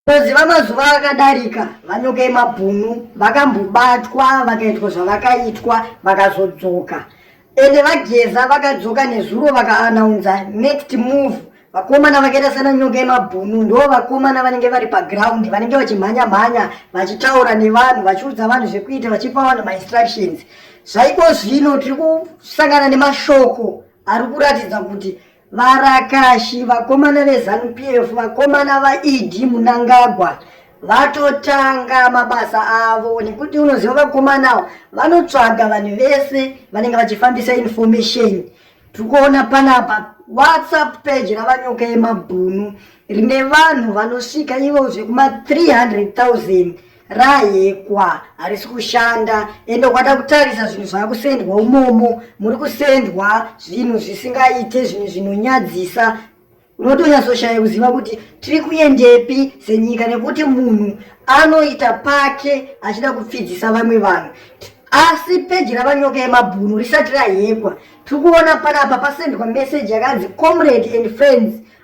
Ngozi vamazuva akadarika vanyoka emabhunu vakambobatwa vakaitwa zvavakaitwa vakazodzoka ende vageza vakadzoka nezuro vakaanaunza next move vakomana vakaita sana nyoka yemabhunu ndo vakomana vanenge vari paground vanenge vachimhanya mhanya vachitaura nevanhu vachiudza vanhu zvekuita vachipa vanhu mainstructions zvaiko zvino tiri kusangana nemashoko ari kuratidza kuti Varakashi, vakomana veZanu PF, vakomana vaED Munangagwa vatotanga mabasa avo nekuti unoziva vakomana avo vanotsvaga vanhu vese vanenge vachifambisa information tiri kuona panapa whatsapp page ravanyoka yemabhunu rine vanhu vanosvika ivo zvekuma 300,000 Rayekwa harisi kushanda ende ukada kutarisa zvinhu zvakusendwa umomo muri kusendwa zvinhu zvisingaite zvinhu zvinonyadzisa unotonyatsoshaya kuziva kuti tiri kuendepi senyika nekuti munhu anoita pake achida kupfidzisa vamwe vanhu asi peji ravanyoka yemabhunu risati rahekwa tiri kuona panapa pasendwa meseji yakanzi comrade and friends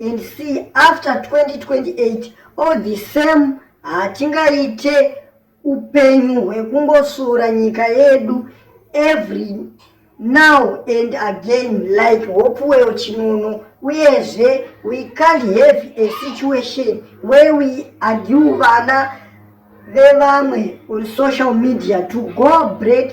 and see after 2028 all the same hatingaite upenyu hwekungosura nyika yedu every now and again like hopewell chinono uyezve we can't have a situation where we argue vana vevamwe on social media to go break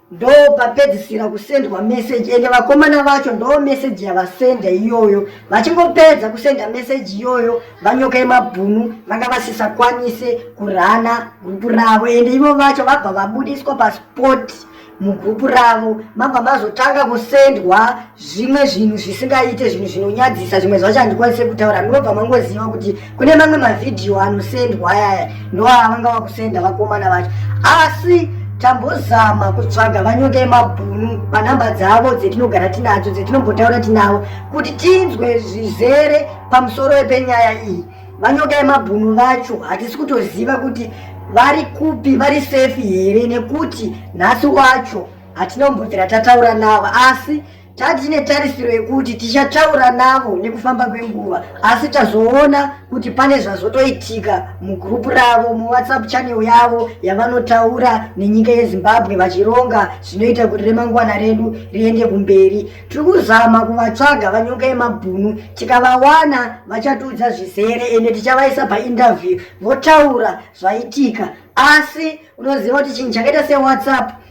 ndopapedzisira kusendwa meseji ende vakomana vacho ndo meseji yavasenda iyoyo vachingopedza kusenda meseji iyoyo vanyoka yemabhunu vanga vasisakwanise kurana gurupu ravo ende ivo vacho vabva vabudiswa paspoti mugrupu ravo mabva mazotanga kusendwa zvimwe zvinhu zvisingaite zvinhu zvinonyadzisa zvimwe zvacho handikwanise kutaura ndinobva mangoziva kuti kune mamwe mavhidhiyo anosendwa ayaya ndoava vanga vakusenda vakomana vacho asi tambozama kutsvaga vanyongei mabhunu panhamba dzavo dzetinogara tinadzo dzetinombotaura tinavo kuti tinzwe zvizere pamusoro wepenyaya iyi vanyongei mabhunu vacho hatisi kutoziva kuti vari kupi vari sefi here nekuti nhasi wacho hatina kumbobvira tataura navo asi tati netarisiro yekuti tichataura navo nekufamba kwenguva asi tazoona kuti pane zvazotoitika mugroup ravo muwhatsapp channel yavo yavanotaura nenyika yezimbabwe vachironga zvinoita kuti remangwana redu riende kumberi tiri kuzama kuvatsvaga vanyoka yemabhunu tikavawana vachatiudza zvizere ende tichavaisa painterview votaura zvaitika asi unoziva kuti chinhu chakaita sewhatsapp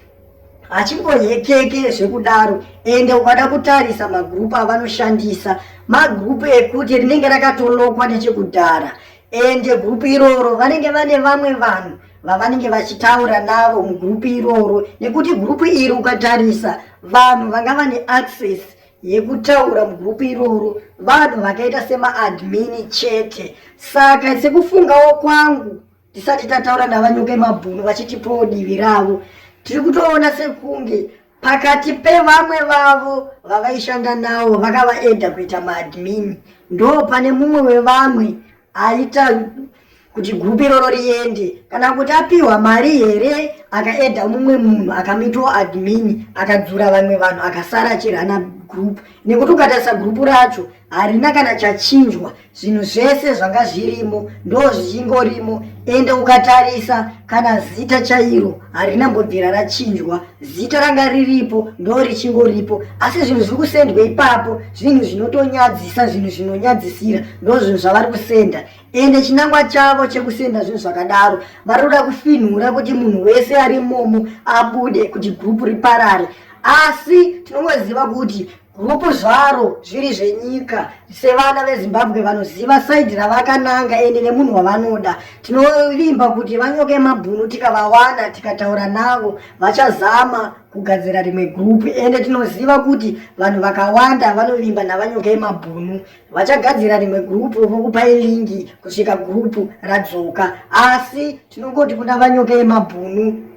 hachingohekeke zvekudaro ende ukada kutarisa magrupu avanoshandisa magrupu ekuti rinenge rakatolokwa nechekudhara ende grupu iroro vanenge vane vamwe vanhu vavanenge vachitaura navo mugrupu iroro nekuti grupu iri ukatarisa vanhu vanga vane access yekutaura mugrupu iroro vanhu vakaita semaadmini chete saka sekufungawo kwangu tisati tataura navanyuke mabhunu vachitipawo divi ravo tiri kutoona sekunge pakati pevamwe vavo vavaishanda navo vakavaedha kuita maadmin ndo pane mumwe wevamwe aita kuti gupi iroro riende kana kuti apiwa mari here akaedha mumwe munhu akamitwo admin akadzura vamwe vanhu akasara achirana group nekuti ukatarisa group racho harina kana chachinjwa zvinhu zvese zvanga zvirimo ndo zvichingorimo ende ukatarisa kana zita chairo harina mbobvira rachinjwa zita ranga riripo ndo richingoripo asi zvinhu zviri kusendwa ipapo zvinhu zvinotonyadzisa zvinhu zvinonyadzisira ndo zvinhu zvavari kusenda ende chinangwa chavo chekusenda zvinhu zvakadaro vari kuda kufinhura kuti munhu wese ari momo abude kuti gurupu riparare asi tinongoziva kuti Huku zvaro zviri zvenyika sevana vezimbabwe vanoziva saidhi ravakananga ende nemunhu wavanoda tinovimba kuti vanyoke mabhunu tikavawana tikataura navo vachazama kugadzira rimwe gurupu ende tinoziva kuti vanhu vakawanda vanovimba navanyoke mabhunu vachagadzira rimwe gurupu vokupai lingi kusvika gurupu radzoka asi tinongoti kuna vanyoke mabhunu